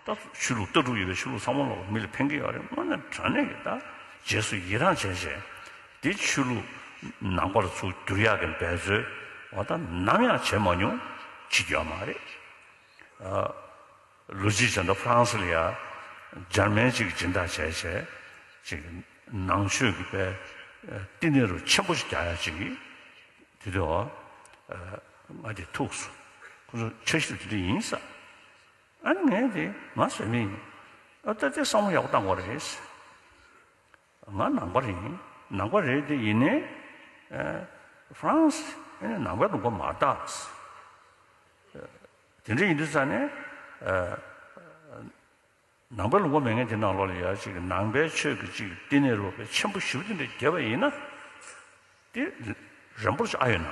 ད་སུ་ཆོས་ལུགས་ལྟ་གྲུབ་ཡོད་པའི་ཆོས་ལུགས་ཚང་མ་ལ་མི་ལ་ཕན་གི་ཡོད་རེད་དངོས་ནས་དྲ་གནས་ཀྱི་ད་རྗེས་སུ་ཡི་རངས་བྱས་བྱས་དེ་ཆོས་ལུགས་ནང་པར་ཚུར་བསྒྱུར་ཡག་གི་འབད་རྩོལ་བ་ད་ནམ་ཡང་བྱས་མ་མྱོང་བྱེད་རྒྱུ་ཡང་མ་རེད་ཨ། ལོ་གཅིག་བྱས་འདུག་ཕ་རང་སི་ལི་ཡ་འཇར་མན་གཅིག་སྦྱིན་བདག་བྱས་བྱས་ཅིག་ནང་ཆོས་ཀྱི་པའི་བསྟི་གནས་རུ་ཆེན་པོ་ཞིག་རྒྱག་ཡག་ཅིག་དེ་དུས་ཨ་ང་དེ་ཐུགས་སུ་ཁོང་ཚོ་འཆར་གཞི་དེ་འདྲ་ཡིན་ས། ཨ་ནི་ངའི་དེ་ང་བཟོས་ནི་ཡིན། ཨ་ལྟ་དེ་བསམ་བློ་ཡག་པོ་བཏང་བ་རེད། ང་ནང་པ་རེད། ནང་པ་རེད་དེ་ཡིན་ནའི། France ཨེ་ནས་ནང་པའི་ལུང་པ་མ་བཏགས། དེ་འདྲ་ཡིན་དུས་ཙང་ནས། ནང་པའི་ལུང་པ་མེད་ངེས་དེ་ནང་ལོག་ལ་ཡར་ཅིག་གི་ནང་པའི་ཆོས་ཀྱི་ཅིག་བསྟི་གནས་ལོག་པའི་ཆེན་པོ་བཞི་པོ་དེ་འདྲ་རྒྱལ་བ་ཡིན་ན། དེ་རེན་པོར་ཆེ་ཨ་ཡོད་ན།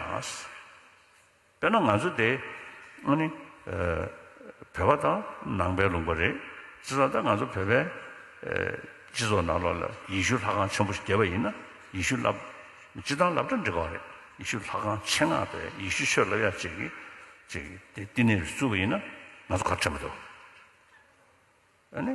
དཔེར་ན་ང་ཚོ་དེ་སྔོན་ནི་བོད་པ་དང་ནང་པའི་ལུང་པ་རེད། ཅི་ཙང་ད་ང་ཚོ་བོད་པའི་སྤྱི་ཚོགས་ནང་ལོགས་ལ་ཡེ་ཤུ་ལྷ་ཁང་ཆེན་པོ་ཞིག་རྒྱས་པ་ཡིན་ན་ཡེ་ཤུ་ལབ། སྤྱི་བཏང་ལབ་གྲ་འགྲིག་ག་རེད། ཡེ་ཤུ་ལྷ་ཁང་ཆེ་ངག་པས་ཡེ་ཤུ་ཆོས་ལབ་ཡག་བྱེད་ཀྱི་བྱེད་ཀྱི་དེ་བསྟི་གནས་རུ་བཙུགས་པ་ཡིན་ན་ང་ཚོ་ག་རེ་དྲན་པ་འདུག་ཨ་ནི།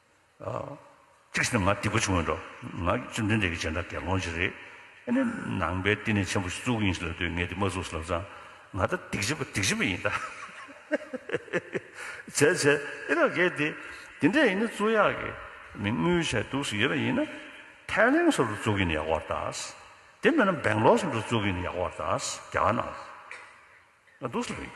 གཅིག་བྱས་ན་ང་སྡིག་པ་ཆུང་བས་འགྲོ། ང་བཅོམ་ལྡན་འདས་ཀྱི་སྦྱིན་བདག་དགེ་སློང་གཅིག་རེད། ཨེ་ནས་ནང་པའི་བསྟི་གནས་ཆེན་པོ་ཞིག་བཙུགས་ཡིན་ཞེས་ལབ་དུས་ངས་དེ་མ་བཙུགས་ཟེར་ལབ་ཙང། ང་ད་སྡིག་བྱེད་པ་སྡིག་བྱེད་པ་ཡིན་ད། བྱས་བྱས་ཨེ་ལོག་གེ་དེ། དེ་འདྲས་ཡིན་ན་བཙུགས་ཡག་གི། མི་དངུལ་ཆད་སྡུག་ཟིག་ཡོད་པ་ཡིན་ན། ཐའི་ལེན་སོགས་སུ་བཙུགས་ཡིན་ཡག་བར་གདའ། དེ་མེད་ན་བེང་ལོར་སོགས་སུ་བཙུགས་ཡིན་ཡག་བར་གདའ། རྒྱ་ནག་སྡུག་ཟིག་ཡིན།